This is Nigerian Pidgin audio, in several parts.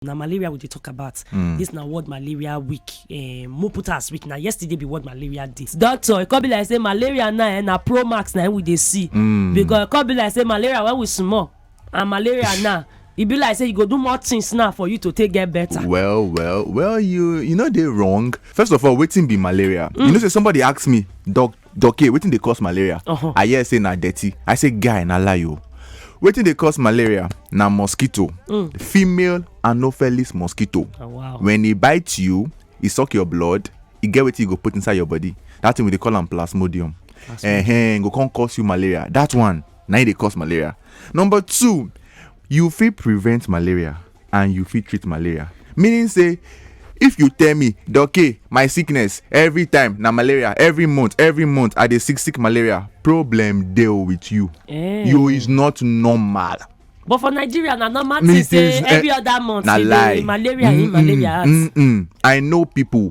na malaria we dey talk about mm. this na world malaria week um, eh, mo put as week na yesterday be world malaria day doctor e come be like say malaria now eh, na pro max na we dey see mm. because e come be like say malaria when we small and malaria now e be like say you go do more things now for you to take get better. well well well you you no dey wrong first of all wetin be malaria mm. you know say somebody ask me doctor doke wetin dey cause malaria uh-huh. i hear say na dirty i say guy na lie o wetin dey cause malaria na mosquito mm. female anopheles mosquito oh, wow. when e bite you e suck your blood e get wetin e go put inside your body that thing we dey call am plasmodium uh-huh, go come cause you malaria that one na e dey cause malaria number two you fit prevent malaria and you fit treat malaria meaning say if you tell me doke my sickness every time na malaria every month every month i dey sick sick malaria problem dey with you eh. you is not normal but for nigeria na normal thing say eh, every other month na lie malaria mm -mm, malaria mm -mm. i know people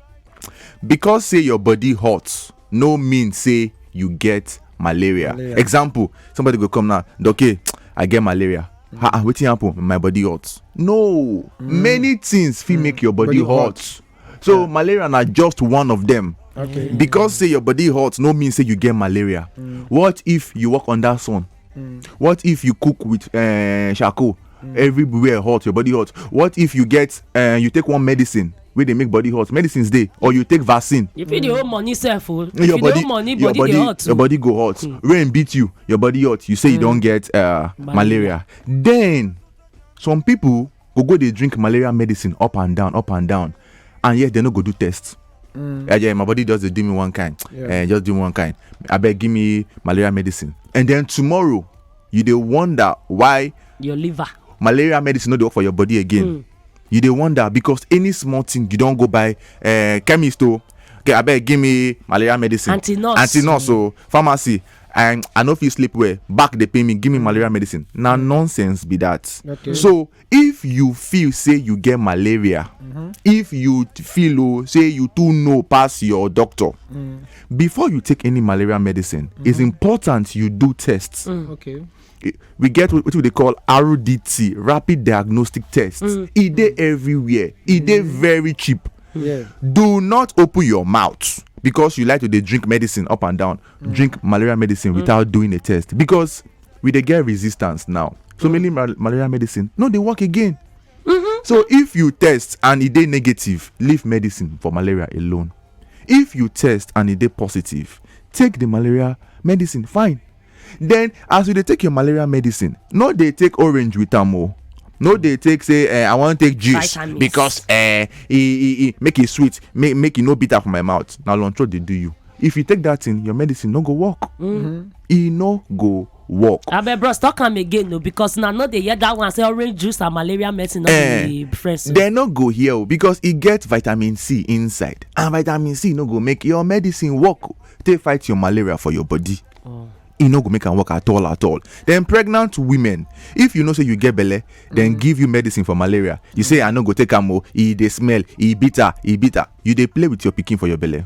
because say your body hot no mean say you get malaria, malaria. example somebody go come now okay i get malaria mm. ah, ah wetin happen my body hot no mm. many things fit mm. make your body, body hot. hot so yeah. malaria na just one of them okay. because say your body hot no mean say you get malaria mm. what if you walk under sun Mm. What if you cook with uh, charcoal? Mm. Everywhere hot, your body hot. What if you get uh, you take one medicine wey dey make body hot medicines dey or you take vaccine. you fit dey hold money sef o oh. if you dey hold money body dey hot too. your body go hot mm. rain beat you your body hot you say mm. you don hmm. get uh, malaria then some people go go dey drink malaria medicine up and down up and down and yet they no go do test mm. yeah, yeah, my body just do me one kind yeah. Eh, just do me one kind I beg, give me malaria medicine and then tomorrow you they wonder why your liver malaria medicine no dey work for your body again mm. you they wonder because any small thing you don't go buy uh, chemist o oh. okay abeg give me malaria medicine anti nurse anti nurse o oh. pharmacy and i no fit sleep well back dey pain me give me malaria medicine na nonsense be that okay. so if you feel say you get malaria if you t- feel oh, say you too know pass your doctor before you take any malaria medicine it's important you do tests Okay. I- we get what what we dey call rdt rapid diagnostic test e dey everywhere e dey very cheap Yeah. do not open your mouth because you like to dey drink medicine up and down drink malaria medicine without doing a test because we dey get resistance now so many mal malaria medicine no dey work again mm-hmm. so if you test and e dey negative leave medicine for malaria alone if you test and e dey positive take the malaria medicine fine then as you dey take your malaria medicine no dey take orange with am o no dey take say eh, i wan take juice Vitamins. because eh, e e e make e sweet make make e no bitter for my mouth na lunch dey do you if you take that thing your medicine no go work mm-hmm. e no go work. abeg bros talk am again o because na no dey hear that one say orange juice and malaria medicine no eh, be friends. dem no go hear o because e get vitamin c inside and vitamin c no go make your medicine work take fight your malaria for your body. Oh. e no go make am work at all at all then pregnant women if you know say you get belle then mm. give you medicine for malaria you say i no go take am o oh, e dey smell e bitter e bitter you dey play with your pikin for your belle.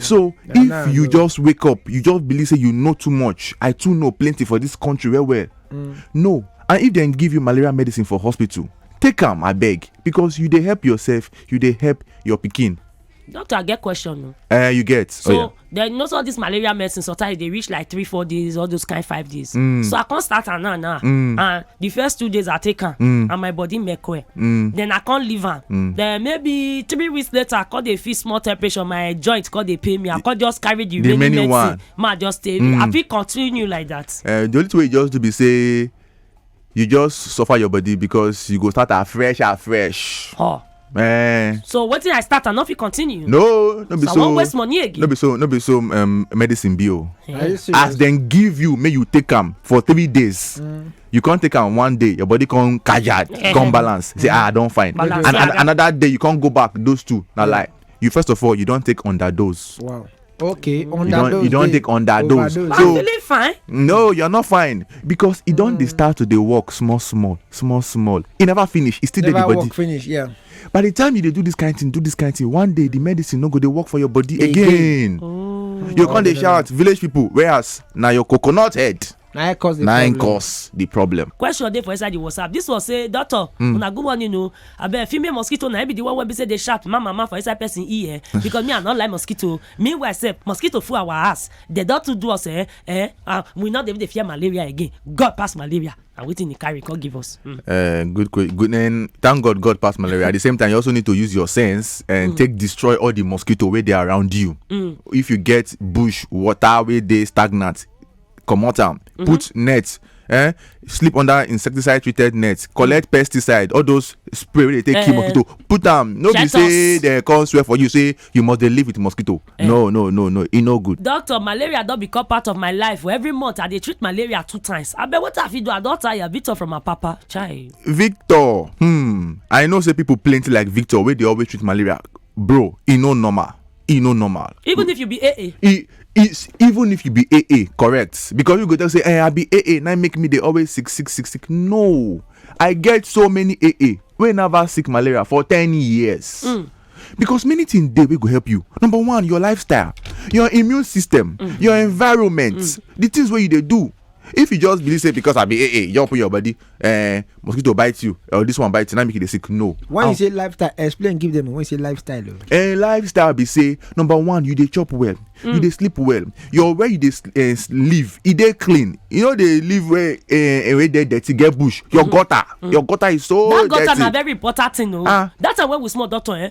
so if you just wake up you just believe say you know too much i too know plenty for this country well well mm. no and if dem give you malaria medicine for hospital take am abeg because you dey help yourself you dey help your pikin doctor i get question o. Uh, you get so oh, yeah. then you know so all this malaria medicine sometimes e dey reach like three four days all those kind five days. Mm. so i come start am now now mm. and the first two days i take am mm. and my body make well mm. then i come leave am mm. then maybe three weeks later i come dey feel small temperature my joint come dey pain me i come just carry the, the remaining medicine ma just stay mm. i fit continue like that. Uh, the only thing wey you just do be say you just suffer your body because you go start afresh afresh. Oh. Eh, so wetin i start i no fit continue no no be so i wan waste money again no be so no be so um, medicine be o eh. as dem give you make you take am for three days mm. you come take am one day your body come kajad eh. come balance say ah i don fine and another day you come go back those two na mm. like you first of all you don take underdose wow okay underdose you don take underdose so i'm feeling fine no you're not fine because e don dey mm. start to dey work small small small small e never finish e still dey the body work finish yeah by the time you dey do this kind thing do this kind thing one day the medicine no go dey work for your body again oh. you come dey shout village people whereas na your coconut head na im cause the na im problem cause the problem question dey for inside the whatsapp this one say doctor Hmm. una good morning o abeg female mosquito na im be the one wey be say dey sharp ma mama for inside person ear because me i no like mosquito meanwhile sef mosquito full our house dem don too do us eh eh ah we no dey even dey fear malaria again god pass malaria na wetin he carry come give us. Hmm. Uh, good, que- good. And thank God, God passed malaria. At the same time, you also need to use your sense and Mm. take destroy all the mosquito where they are around you. Mm. If you get bush water where they stagnant, comot am mm-hmm. put net eh sleep under insecticide treated net collect mm. pesticide all those spray wey dey take kill eh. mosquito put am no be say dem come swear for you say you must dey live with mosquito eh. no no no no e no good. doctor malaria don become part of my life for every month i dey treat malaria two times abeg wetin i fit do i don tire victor from my papa chai. victor hmm i know say people plenty like victor wey dey always treat malaria bro e no normal e no normal even if you be aa e is even if you be aa correct because you go tell say eh i be aa na make me dey always sick sick sick sick no i get so many aa wey never sick malaria for ten years mm. because many things dey wey go help you number one your lifestyle your immune system mm. your environment mm. the things wey you dey do if you just believe say because i be aa you just open your body eh mosquito bite you or this one bite you na make you dey sick no. when you say lifestyle explain give them when you say lifestyle. Oh. Eh, lifestyle be say number one you dey chop well mm. you dey sleep well your where you dey uh, live e dey clean you no dey live where uh, where dey dirty get bush your mm -hmm. gutter mm -hmm. your gutter is so that dirty. that gutter na very important thing o oh. ah. that time wey we small doctor eh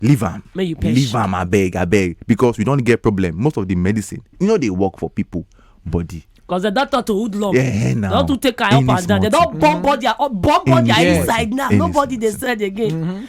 leave am Make you perish. leave am abeg abeg because we don get problem most of the medicine e no dey work for people body Because the doctor to hoodlum. Yeah, now. Don't to take her up Any and down. They small don't bomb body, uh, bomb body Any her small inside thing. now. Any Nobody small they said again.